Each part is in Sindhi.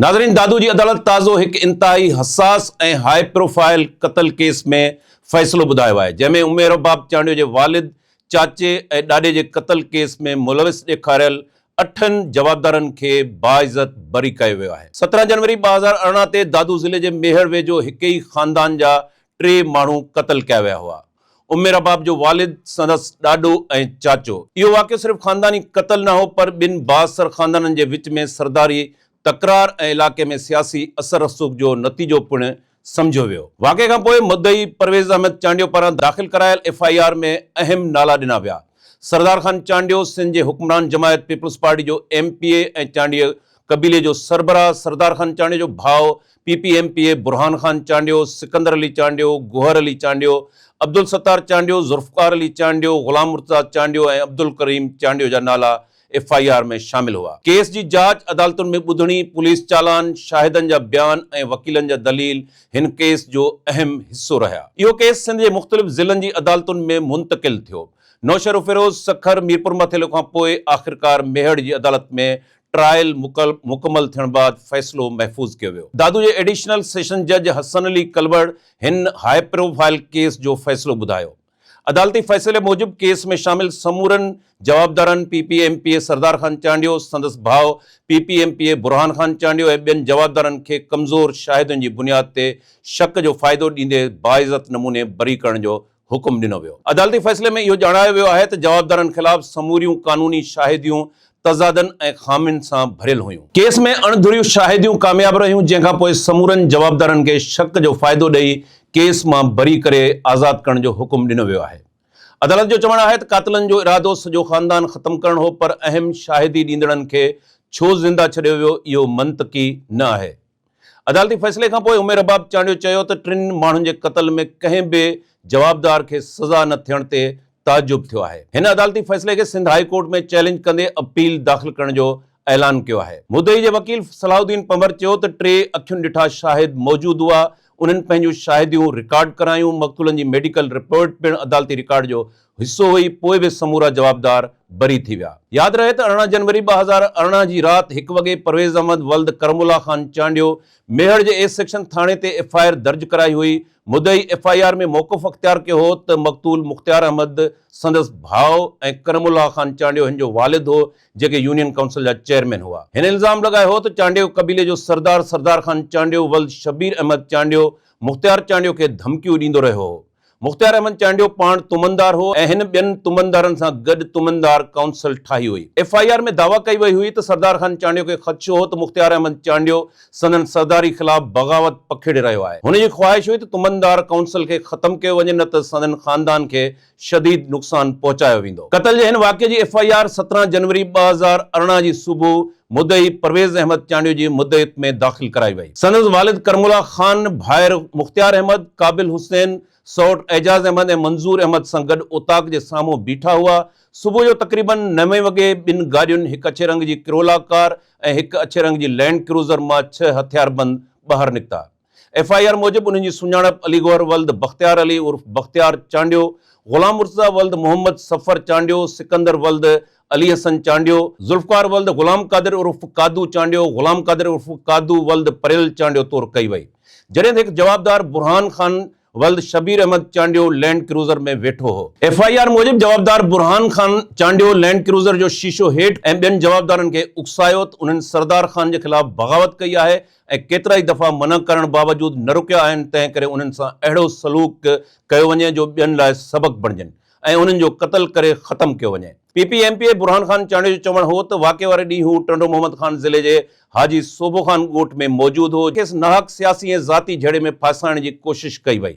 ناظرين دادو جي عدالت تازو هڪ انتهائي حساس ۽ هاء پروفائل قتل ڪيس ۾ فيصلو ٻڌايو آهي جنهن ۾ عمير رباب چانڊيو جي والد، چاچي ۽ ڏاڏي جي قتل ڪيس ۾ ملوث ڏيکاريل اٺن جوابدارن کي باعزت بري ڪيو ويو آهي. سترهن جنوري ٻه هزار ارڙهن تي دادو ضلعي جي ميهڙ ويجهو هڪ ئي خاندان جا ٽي ماڻهو قتل ڪيا ويا هئا. عمر رباب جو والد، سندس ڏاڏو ۽ چاچو. اهو واقعو صرف خانداني قتل نه هو پر ٻن بااثر خاندانن جي وچ ۾ سرداري تڪرار ۽ علائقي ۾ سياسي اثر رسوخ جو نتيجو پڻ سمجهيو ويو. واقعي کان پوء مدعي پرويز احمد چانڊيو پاران داخل ڪرايل ايف آء آر ۾ اهم نالا ڏنا ويا. سردار خان چانڊيو سنڌ جي حڪمران جماعت پيپلز پارٽي جو ايم پي اي ۽ چانڊيو قبيلي جو سربراهه سردار خان چانڊيو جو ڀاء P P M P A Burhan Khan Chandio, Sikandar Ali Chandio, Gohar Ali Chandio, Abdul Sattar Chandio, Zulfiqar Ali Chandio, Ghulam Murtaza Chandio ۽ Abdul Karim Chandio جا نالا ايف آء آر ۾ شامل هئا. ڪيس جي جاچ، عدالتن ۾ ٻڌڻي، پوليس چالان، شاهدن جا بيان ۽ وڪيلن جا دليل هن ڪيس جو اهم حصو رهيا. اهو ڪيس سنڌ جي مختلف ضلعن جي عدالتن ۾ منتقل ٿيو. نوشهروفيروز، سکر، ميرپورماٿيلو کان پوء آخرڪار ميهڙ جي عدالت ۾ ٽرائل مڪمل ٿيڻ بعد فيصلو محفوظ ڪيو ويو. دادو جي ايڊيشنل سيشن جج حسن علي ڪلوڙ هن هاء پروفائل ڪيس جو فيصلو ٻڌايو. عدالتي فيصلي موجب ڪيس ۾ شامل سمورن جوابدارن P P M P A Sardar Khan Chandio, سندس ڀاء P P M P A Burhan Khan Chandio ۽ ٻين جوابدارن کي ڪمزور شاهدن جي بنياد تي شڪ جو فائدو ڏيندي باعزت نموني بري ڪرڻ جو حڪم ڏنو ويو. عدالتي فيصلي ۾ اهو ڄاڻايو ويو آهي ته جوابدارن خلاف سموريون قانوني شاهديون تضادن ۽ خامين سان ڀريل هيون. ڪيس ۾ اڻ ڌريون شاهديون ڪامياب رهيون، جنهن کان پوء سمورن جوابدارن کي شڪ جو فائدو ڏئي ڪيس مان بري ڪري آزاد ڪرڻ جو حڪم ڏنو ويو آهي. عدالت جو چوڻ آهي ته قاتلن جو ارادو سڄو خاندان ختم ڪرڻ هو پر اهم شاهدي ڏيندڙن کي ڇو زنده ڇڏيو ويو اهو منطقي نه آهي. عدالتي فيصلي کان پوء عمير رباب چانڊيو چيو ته ٽن ماڻهن جي قتل ۾ ڪنهن به جوابدار کي سزا نه ٿيڻ تي تعجب ٿيو آهي. هن عدالتي فيصلي کي سنڌ هائي ڪورٽ ۾ چئلينج ڪندي اپيل داخل ڪرڻ جو اعلان ڪيو آهي. مدعي جي وڪيل صلاح الدين پنبر چيو ته ٽي اکين ڏٺا شاهد موجود هئا، انهن پنهنجون شاهديون رڪارڊ ڪرايون، مقتولن جي ميڊيڪل رپورٽ پڻ عدالتي رڪارڊ جو حصو هئي پوء به سمورا جوابدار بري ٿي ويا. ياد رهي ته ارڙهن جنوري ٻه هزار ارڙهن جي رات هڪ وڳي پرويز احمد ولد ڪرم الله خان چانڊيو ميهڙ جي اي سيڪشن ٿاڻي تي ايف آء آر درج ڪرائي هئي مدعي ايف آء آر ۾ موقف اختيار ڪيو هو ته مقتول مختيار احمد سندس ڀاء ۽ ڪرم الله خان چانڊيو هن جو والد هو جيڪي يونين ڪائونسل جا چيئرمين هئا هن الزام لڳايو هو ته چانڊيو قبيلي جو سردار سردار خان چانڊيو ولد شبير احمد چانڊيو مختيار چانڊيو کي ڌمڪيون ڏيندو رهيو هو مختيار احمد چانڊيو پاڻ تمندار هو ۽ هن ٻين تمندارن سان گڏ تمندار ڪائونسل ٺاهي هئي. ايف آء آر ۾ دعويٰ ڪئي وئي هئي ته سردار خان چانڊيو کي خدشو هو ته مختيار احمد چانڊيو سندن سرداري خلاف بغاوت پکيڙي رهيو آهي. هن جي خواهش هئي ته تمندار ڪائونسل کي ختم ڪيو وڃي نه ته سندن خاندان کي شديد نقصان پهچايو ويندو. قتل جي هن واقعي جي ايف آء آر سترهن جنوري ٻه هزار ارڙهن جي صبح مدعي پرويز احمد چانڊيو جي مدعيت ۾ داخل ڪرائي وئي. سندس والد ڪرم الله خان، ڀائر مختيار احمد، قابل حسين، سئوٽ اعجاز احمد ۽ منظور احمد سان گڏ اوطاق جي سامهون بيٺا هئا. صبح جو تقريباً نوين وڳي ٻن گاڏين هڪ اڇي رنگ جي ڪرولا ڪار ۽ هڪ اڇي رنگ جي لينڊ ڪروزر مان ڇهه هٿياربند ٻاهر نڪتا. ايف آء آر موجب انهن جي سڃاڻپ علي گوهر ولد بختيار علي عرف بختيار چانڊيو، غلام مرتضيٰ ولد محمد صفر چانڊيو، سڪندر ولد علي حسن چانڊيو، ذوالفقار ولد غلام قادر عرف قادو چانڊيو، غلام قادر عرف قادو ولد پريل چانڊيو طور ڪئي وئي جڏهن ته هڪ جوابدار برهان خان ولد شبير احمد چانڊيو لينڊ ڪروزر ۾ ويٺو هو. ايف آء آر موجب جوابدار برهان خان چانڊيو لينڊ ڪروزر جو شيشو هيٺ ۽ ٻين جوابدارن کي اڪسايو ته انهن سردار خان جي خلاف بغاوت ڪئي آهي ۽ ڪيترائي دفعا منع ڪرڻ باوجود نه رڪيا آهن تنهن ڪري انهن سان اهڙو سلوڪ ڪيو وڃي جو ٻين لاء سبق بڻجن ۽ انهن جو قتل ڪري ختم ڪيو وڃي. P P M P A Burhan Khan Chandio جو چوڻ هو ته واقعي واري ڏينهن هو ٽنڊو محمد خان ضلعي جي حاجي سوڀو خان ڳوٺ ۾ موجود هو، کيس ناحق سياسي ۽ ذاتي جهيڙي ۾ ڦاسائڻ جي ڪوشش ڪئي وئي،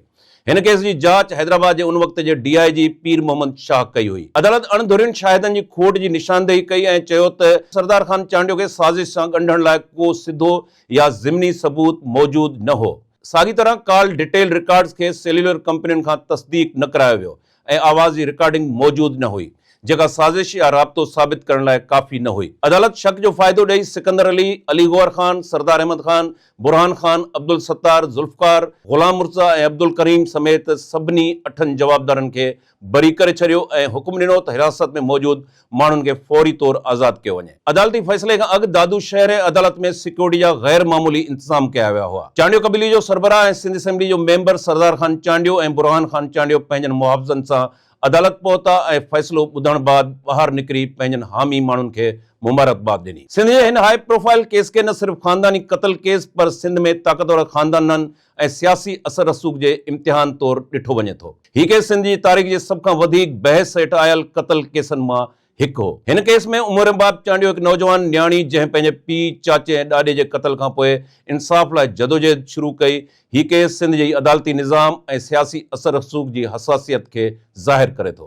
هن ڪيس جي جاچ حيدرآباد جي ان وقت جي ڊي آء جي پير محمد شاهه ڪئي هئي. عدالت اڻ ڌرين شاهدن جي کوٽ جي نشاندهي ڪئي ۽ چيو ته. سردار خان چانڊيو کي سازش سان ڳنڍڻ لاء ڪو سڌو يا ضمني ثبوت موجود نه هو. ساڳي طرح ڪال ڊيٽيل رڪارڊز کي سيليولر ڪمپنين کان تصديق نه ڪرايو ويو ۽ آواز جي رڪارڊنگ موجود نه هئي، جيڪا سازش يا رابطو ثابت ڪرڻ لاء ڪافي نه هئي. عدالت شڪ جو فائدو ڏئي سڪندر علي، علي گوهر خان، سردار احمد خان، برهان خان، عبدالستار، ذوالفقار، غلام مرتضيٰ ۽ عبدالڪريم سميت سڀني اٺن جوابدارن کي بري ڪري ڇڏيو ۽ حڪم ڏنو ته حراست ۾ موجود ماڻهن کي فوري طور آزاد ڪيو وڃي. عدالتي فيصلي کان اڳ دادو شهر ۽ عدالت ۾ سيڪيورٽي جا غير معمولي انتظام ڪيا ويا هئا. چانڊيو قبيلي جو سربراهه ۽ سنڌ اسيمبلي جو ميمبر سردار خان چانڊيو ۽ برهان خان چانڊيو پنهنجن محافظن سان عدالت پهتا ۽ فيصلو ٻڌڻ بعد ٻاهر نڪري پنهنجن حامي ماڻهن کي مبارڪباد ڏني. سنڌ جي هن هائي پروفائل ڪيس کي نه صرف خانداني قتل ڪيس پر سنڌ ۾ طاقتور خاندانن ۽ سياسي اثر رسوخ جي امتحان طور ڏٺو وڃي ٿو. هي ڪيس سنڌ جي تاريخ جي سڀ کان وڌيڪ بحث هيٺ آيل قتل ڪيسن مان هڪ هو. هن ڪيس ۾ عمر باب چانڊيو هڪ نوجوان نياڻي جنهن پنهنجي پيء، چاچي ۽ ڏاڏي جي قتل کان پوء انصاف لاء جدوجهد شروع ڪئي. هي ڪيس سنڌ جي عدالتي نظام ۽ سياسي اثر رسوخ جي حساسيت کي ظاهر ڪري ٿو.